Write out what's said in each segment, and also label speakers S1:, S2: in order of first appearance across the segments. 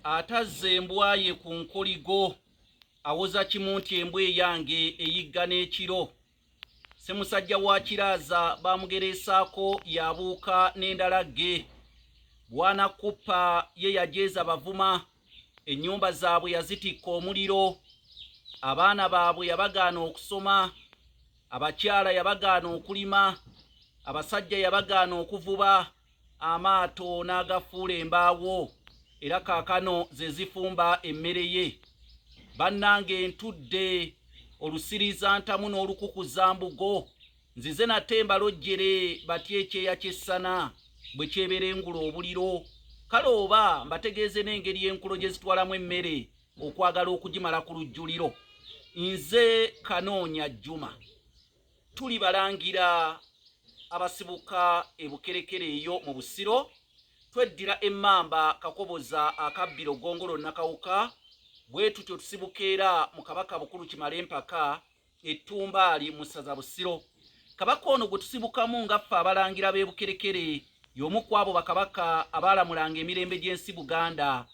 S1: atazza embwa ye ku nkoligo awoza kimu nti embwa eyange eyigga n'ekiro ssemusajja wa kiraaza baamugereesaako yabuuka n'endala gge bwana kuppa ye yajeeza bavuma ennyumba zaabwe yazitikka omuliro abaana baabwe yabagaana okusoma abakyala yabagaana okulima abasajja yabagaana okuvuba amaato n'agafuula embaawo era kaakano ze zifumba emmere ye bannange ntudde olusiriza ntamu n'olukukuza mbugo nzize nate mbalojjere batya ekyeya ky'essana bwe kyeberengula obuliro kale oba mbategeeze n'engeri enkulo gye zitwalamu emmere okwagala okugimala ku lujjuliro nze kanoonya jjuma tuli balangira abasibuka ebukerekere eyo mu busiro tweddira emmamba kakoboza akabbiro gongolo nakawuka bwe tutyo tusibuka era mu kabaka bukulu kimale empaka ettumbaali mu ssaza busiro kabaka ono gwe tusibukamu nga ffe abalangira b'ebukerekere y'omu ku abo bakabaka abaalamulanga emirembe gy'ensi buganda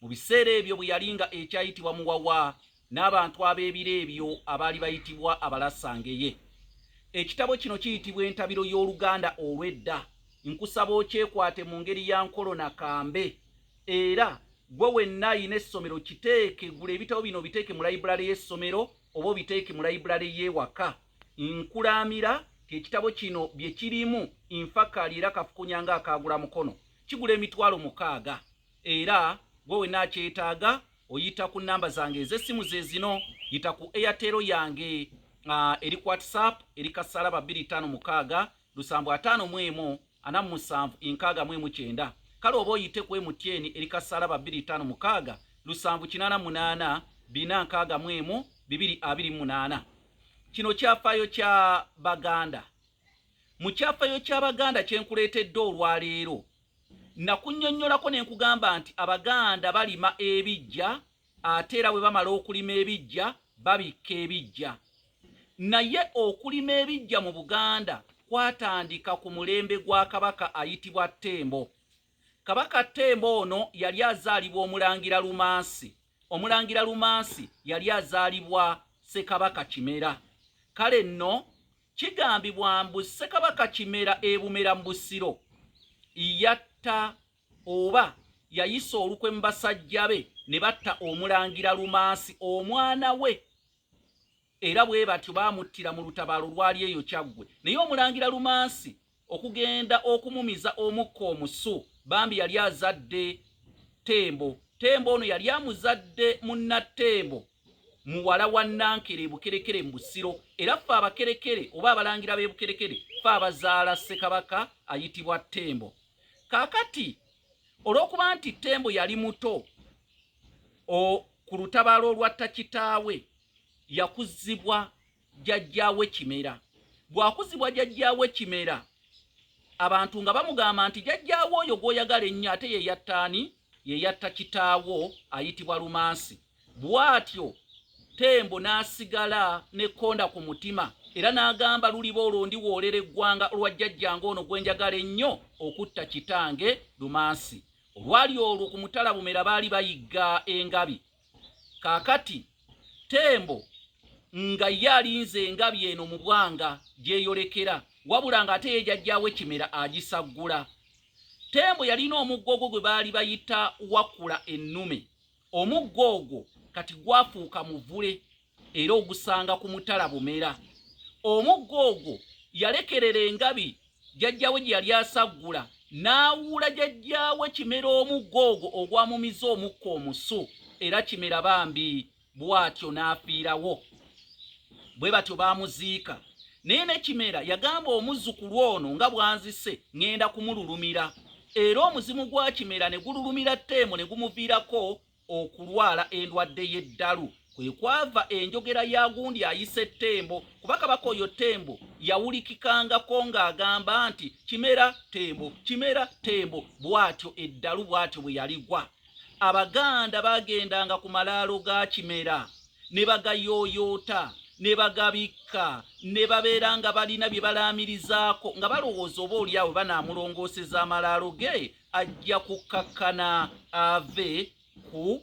S1: Mu biseera ebyo bwe yali nga ekyayitibwa Muwawa n'abantu ab'ebiro ebyo abaali bayitibwa Abalasangeye. Ekitabo kino kiyitibwa Entabiro y'Oluganda olw'edda. Nkusaba okyekwate mu ngeri ya nkolo na kambe era gwe wenna ayina essomero kiteeke gula ebitabo bino biteeke mu layibulale y'essomero oba obiteeke mu layibulale y'ewaka nkulaamira ng'ekitabo kino bye kirimu nfakaali era kafukunya ng'akaagula mukono kigula emitwalo mukaaga era gwe wena akyetaaga oyita ku namba zange ez'essimu ze zino yita ku airtero yange uh, eri ku whatsapp eri kasalaba 256 lusambu ataano mu emu ana mu musanvu enkaaga mu emu kyenda kale oba oyite ku mtn eri kasalaba 256 lusambu kinaana munaana bina nkaaga mu emu bibiri abiri munaana kino kyafaayo kya baganda mu kyafaayo kya baganda kyenkuleetedde olwaleero Nakunnyonnyolako ne nkugamba nti Abaganda balima ebiggya ate era bwe bamala okulima ebiggya babikka ebiggya. Naye okulima ebiggya mu Buganda kwatandika ku mulembe gwa Kabaka ayitibwa Ttembo. Kabaka Ttembo ono yali azaalibwa Omulangira Lumansi. Omulangira Lumansi yali azaalibwa Ssekabaka Kimera. Kale nno kigambibwa mbu Ssekabaka Kimera e Bumera mu Busiro yatta oba yayisa olukwe mu basajja be ne batta Omulangira Lumansi omwana we era bwe batyo baamuttira mu lutabaalo lwali eyo kyaggwe naye omulangira lumansi okugenda okumumiza omukka omusu bambi yali azadde tembo tembo ono yali amuzadde munnattembo muwala wa nankere ebukerekere mu busiro era ffe abakerekere oba abalangira b'ebukerekere ffe abazaala ssekabaka ayitibwa tembo kaakati olw'okuba nti tembo yali muto ku lutabaalo olwatta kitaawe yakuzibwa jajjaawe kimera bwakuzibwa jajjaawe kimera abantu nga bamugamba nti jajjaawe oyo gwoyagala ennyo ate yeyattaani yeyatta kitaawo ayitibwa lumansi bwatyo tembo n'asigala nekonda ku mutima era n'agamba luliba olwo ndi woolera eggwanga olwa jjajjange ono gwe njagala ennyo okutta kitange lumansi Olwali olwo ku mutala Bumera baali bayigga engabi. Kaakati Tembo nga ye alinze engabi eno mu bwanga gyeyolekera, wabula ng'ate ye jajjaawe Kimera agisaggula. Tembo yalina omuggo ogwo gwe baali bayita Wakula ennume. Omuggo ogwo kati gwafuuka muvule. era ogusanga ku mutala bumera omugga ogwo yalekerera engabi jajjawe gye yali asaggula n'awuula jajjawe kimera omugga ogwo ogwamumiza omukka omusu era kimera bambi bw'atyo n'afiirawo bwe batyo baamuziika naye ne kimera yagamba omuzzukulu ono nga bwanzise ŋŋenda kumululumira era omuzimu gwa kimera ne gululumira tteemu ne gumuviirako okulwala endwadde y'eddalu kwe kwava enjogera ya gundi ayise ttembo kuba kabaka oyo ttembo yawulikikangako ng'agamba nti kimera ttembo kimera ttembo bw'atyo eddalu bw'atyo bwe yaligwa abaganda baagendanga ku malaalo ga kimera ne bagayooyoota ne bagabikka ne babeera nga balina bye balaamirizaako nga balowooza oba olyawo banaamulongooseza amalaalo ge ajja kukkakkana ave ku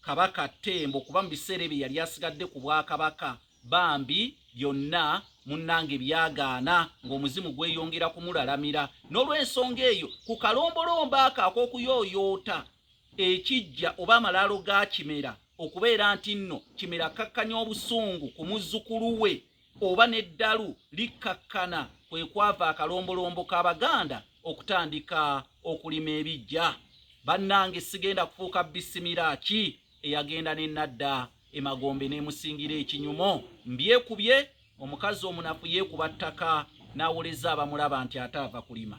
S1: kabaka ttembo kuba mu biseera ebyo yali asigadde ku bwakabaka bambi byonna munnange byagaana ng'omuzimu gweyongera kumulalamira n'olw'ensonga eyo ku kalombolombo ako ak'okuyooyoota ekijja oba amalaalo ga kimera okubeera nti nno kimera akkakkanya obusungu ku muzzukulu we oba n'eddalu likkakkana kwe kwava akalombolombo k'Abaganda okutandika okulima ebiggya. Bannange sigenda kufuuka bisimira ki eyagenda ne nadda emagombe n'emusingira ekinyumo mbyekubye omukazi omunafu yeekuba ttaka n'awoleza abamulaba nti ate ava kulima.